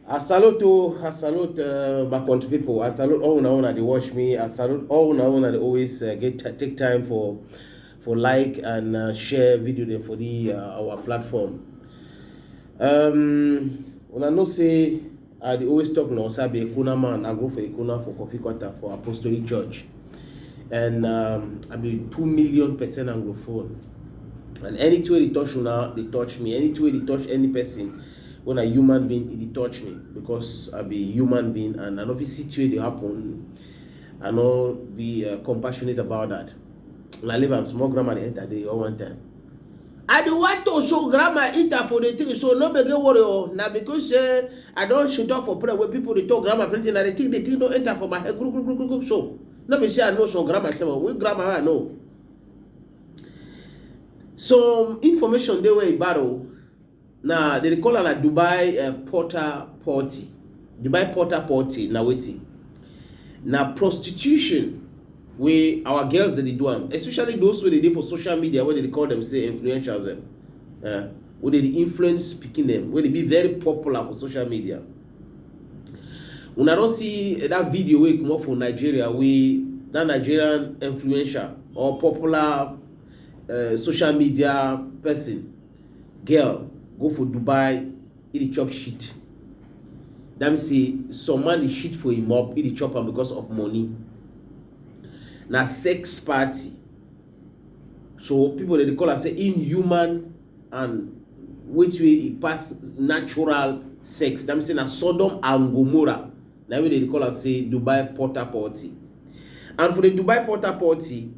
I salute o, I salute uh, my country people. I salute all una una dey watch me. I salute all una una dey always uh, get ti- take time for for like and uh, share video dem for the uh, our platform. Um, una know say I dey always talk na Osabe Ekuna man. I go for Ekuna for Coffee Quarter for Apostolic Church. and um, i be two million percent anglophone and anything wey dey touch una dey touch me anything wey dey touch any person when a human being e dey touch me because i be human being and i no fit see thing wey dey happen i no be uh, compassionate about that una leave am small grammar dey enter dey all one time. I dey want to show grandma Ita for the thing so no gbege worry o na because say I don shit up for prayer wey people dey talk grandma plenty na the thing the thing don enter for my head group group group group so no be say I know some grandma sef o which grandma I know some information dey wey e bad o Na dem dey call am na Dubai um porta potty. Dubai porta potty na wetin? Na prostitution wey our girls dem dey do am especially those wey dey dey for social media wey dem dey call dem sey influencers dem um wey dem dey influence pikin dem wey dey be very popular for social media. Una don see dat video wey comot for Nigeria wey dat Nigerian influencer or popular um social media person Girl go for Dubai, e dey chop shit. That means say some man dey shit for him up, e dey chop am because of money. Na sex party. So people dey call am say inhuman and wetin wey e pass natural sex. That means say na Sodom and Gomorrah. Na wey dey call am say Dubai Porta Potty. And for the Dubai Porta Potty,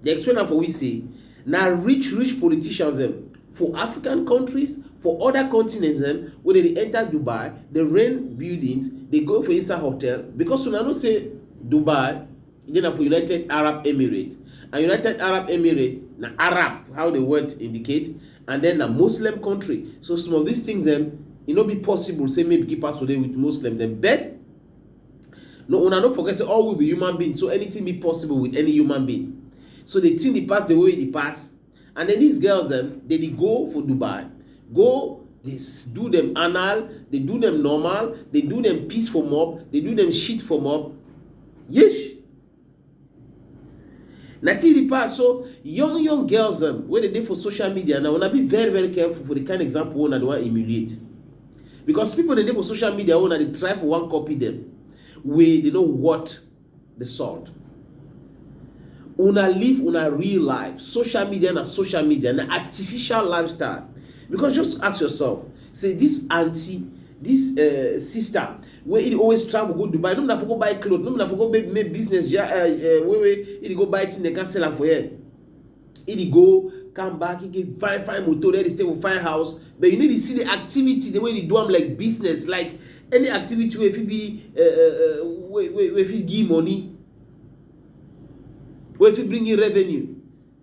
Dem explain am for we say na rich rich politicians dem for African countries, for oda continents dem wey dem dey enter Dubai, dey rent buildings, dey go for inside hotel because una know say Dubai dey na for United Arab Emirates and United Arab Emirates na Arab how the word indicate and then na Muslim country so some of these things dem e no be possible say make beekeepers to dey with Muslim dem but no una no forget say all we be human being so anything be possible with any human being so the thing dey pass the way e dey pass and then these girls dem dey dey go for dubai go dey s- do them anal dey do them normal dey do them piss for mop dey do them shit for mop yesh na till the pass so young young girls um, wey dey dey for social media now una be very very careful for the kind example wey una dey wan emulate because people dey dey for social media wey una dey try for one copy them wey dey no what the salt una live una real life social media na social media na artificial lifestyle because just ask yourself say this aunty this uh, sister wey he dey always travel go dubai no be na for go buy cloth no be na for go make make business ja uh, uh, wey wey he dey go buy thing dem can sell am for here he dey go come back he get fine fine motor there dey stay for fine house but you need to see the activity the way he dey do am like business like any activity wey fit be uh, uh, uh, wey wey wey fit give money wey fit bring in revenue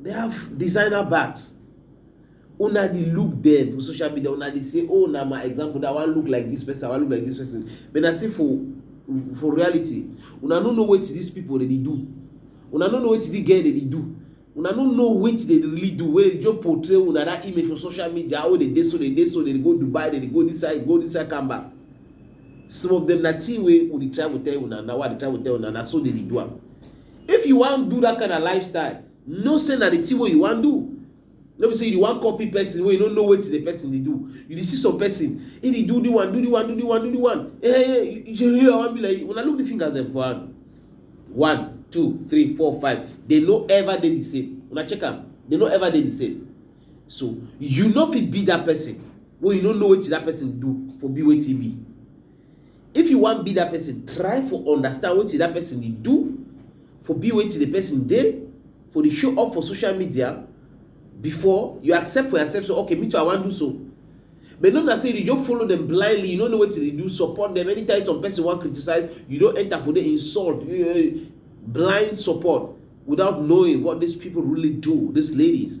They have designer bags. Una dey look them for social media, una dey say, oh, na my example, that one look like this person, I wan look like this person. But na say for for reality, una no know wetin these people dey do. Una no know wetin the girl dey do. Una no know wetin dey really do. Wey dey just portray una that image for social media, oh, dey dey so, dey dey so, dey go Dubai, dey go this side, go this side, come back. Some of them na thing wey we dey travel tell una, na why I dey travel tell una, na so dey dey do am. If you wan do that kind of lifestyle, know say na the thing wey you wan do. No be say you wan copy person wey you no know wetin the person dey do. You dey see some person, he dey do the one, do the one, do the one, do the one. Eh, eh, eh, you say, hey, I wan be like you. Una look the fingers dem for hand. One, two, three, four, five. They no ever dey the same. Una check am. They no ever dey the same. So you no fit be that person wey you no know wetin that person do for be wetin be. If you wan be that person, try for understand wetin that person dey do, for be wetin the person dey, for dey show off for social media before you accept for yourself say okay me too I wan do so. But no be like say you dey just follow them blindly, you no know wetin dey do, support them anytime some person wan criticize, you don enter for there insult, blind support without knowing what these people really do, these ladies.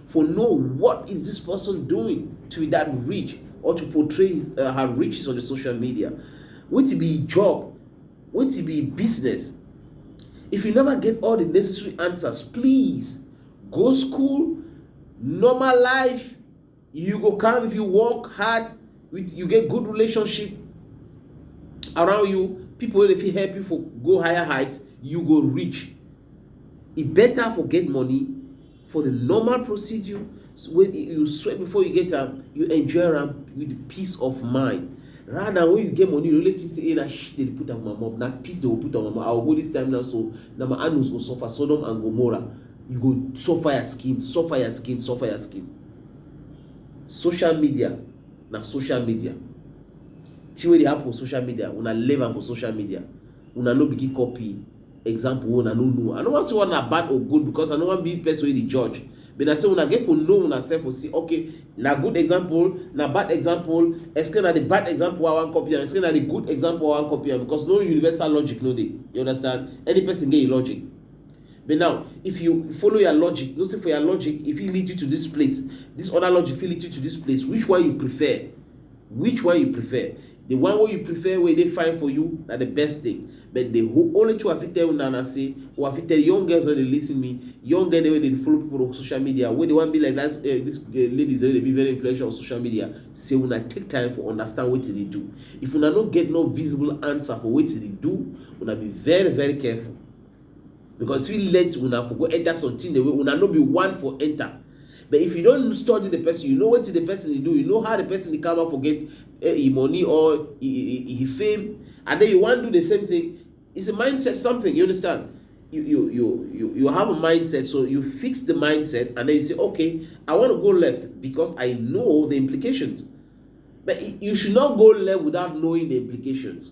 for know what is this person doing to be that rich or to portray uh, her riches on the social media wetin be job wetin be business if you never get all the necessary answers please go school normal life you go come if you work hard with you get good relationship around you people wey dey fit help you for go higher height you go reach e better for get money For the normal procedure when you sweat before you get am, you enjoy am with peace of mind. Rather than when you get money, you really think say, hey, na shit they put on my mom, na peace they will put on my mom. I will go this time now, so now my anus go suffer, Sodom and Gomorrah. You go suffer your skin, suffer your skin, suffer your skin. Social media, na social media. See what they happen on social media, when I live am for social media. Una no begin copy example wey una no know. I no wan say one na bad or good because I no wan be person wey dey judge but na say una get for know una self for see okay na good example na bad example esque na the bad example wey I wan copy am esque na the good example wey I wan copy am because no universal logic no dey you understand any person get him logic but now if you follow your logic know say for your logic e fit lead you to this place this other logic fit lead you to this place which one you prefer which one you prefer. The one wey you prefer wey dey fine for you na the best thing but the only thing wey I fit tell una na say wey I fit tell young girls wey dey listen me young girl dem wey dey follow people on social media wey dey wan be like that eh, this eh, ladies wey dey be very influential on social media say una take time for understand wetin dey do if una no get no visible answer for wetin dey do una be very very careful. because fit let una for go enter something wey una no be one for enter but if you don study the person you know wetin the person dey do you know how the person dey come out for get eh, him money or him fame and then you wan do the same thing it's a mindset something you understand you you you you, you have a mindset so you fix the mindset and then you say okay i want to go left because i know the implications but you should not go left without knowing the implications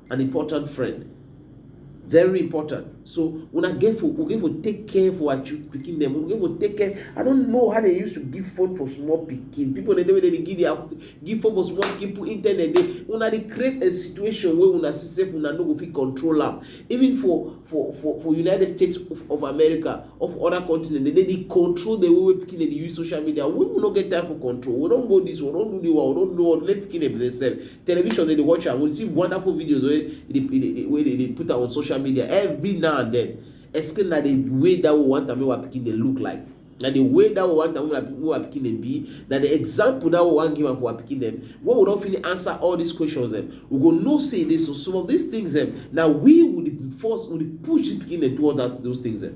an important friend very important so una get for we get for take care for our pikin dem we get for take care i don't know how they used to give phone for small pikin people dey dey wey dey give their give phone for small pikin put internet dey una dey create a situation wey una see sef una no go fit control am even for for for for united states of, of america of other continent dey dey control the way wey pikin dey use social media we no get time for control we don go this one we don do the one we don do one let pikin dem dey sef television dem dey watch am we see wonderful videos wey dey dey wey dey dey put am on social media every now and then explain na the way that we want am make our pikin dey look like na the way that we want am make our pikin dey be na the example that we wan give am for our pikin dem when we don finish answer all these questions dem we go know say dey so some of these things dem na we we dey force we dey push the pikin dem towards that those things dem.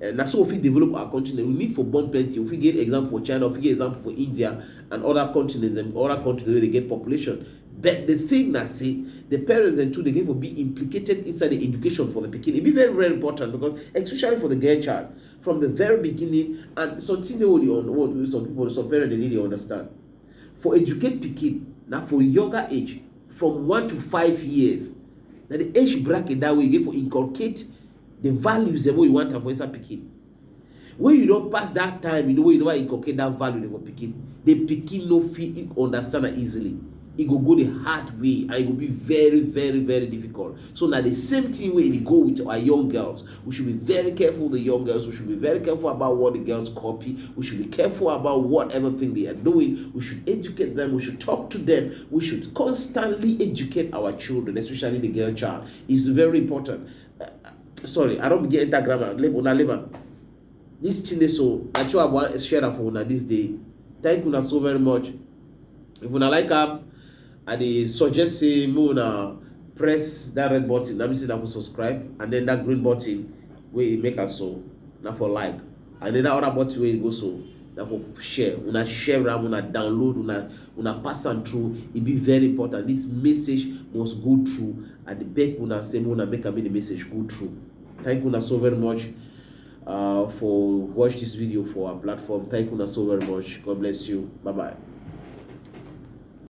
Eh, na so we fit develop our continent. We need for born plenty. We fit get example for China, we fit get example for India and other continents and other countries wey dey get population. But the thing na say the parents dem too dey get for be implicated inside the education for the pikin. E be very very important because especially for the girl child from the very beginning and something dey wey dey some people some parents dey need dey understand. For educate pikin na for younger age from one to five years na the age bracket that way you get for inculcate The values dem wey you want am for inside pikin. When you don pass that time, you know wey you never inculcate that value dem for pikin, the pikin no fit e understand am easily. E go go the hard way and e go be very very very difficult. So na the same thing wey e dey go with our young girls. We should be very careful the young girls. We should be very careful about what the girls copy. We should be careful about what everything they are doing. We should educate them. We should talk to them. We should constantly educate our children, especially the girl child. It's very important. sorry i don begin enter grammar una leave am this chile so na true i wan share am for una this day thank una so very much if una like am i dey suggest say make una press that red button that means say una go subscribe and then that green button wey make am so na for like And then that other button wey you go so, na for share. Una share am, una download, una una pass am through. E be very important. This message must go through. I dey beg una say make una make am make the message go through. Thank una so very much uh, for watch this video for our platform. Thank una so very much. God bless you. Bye bye.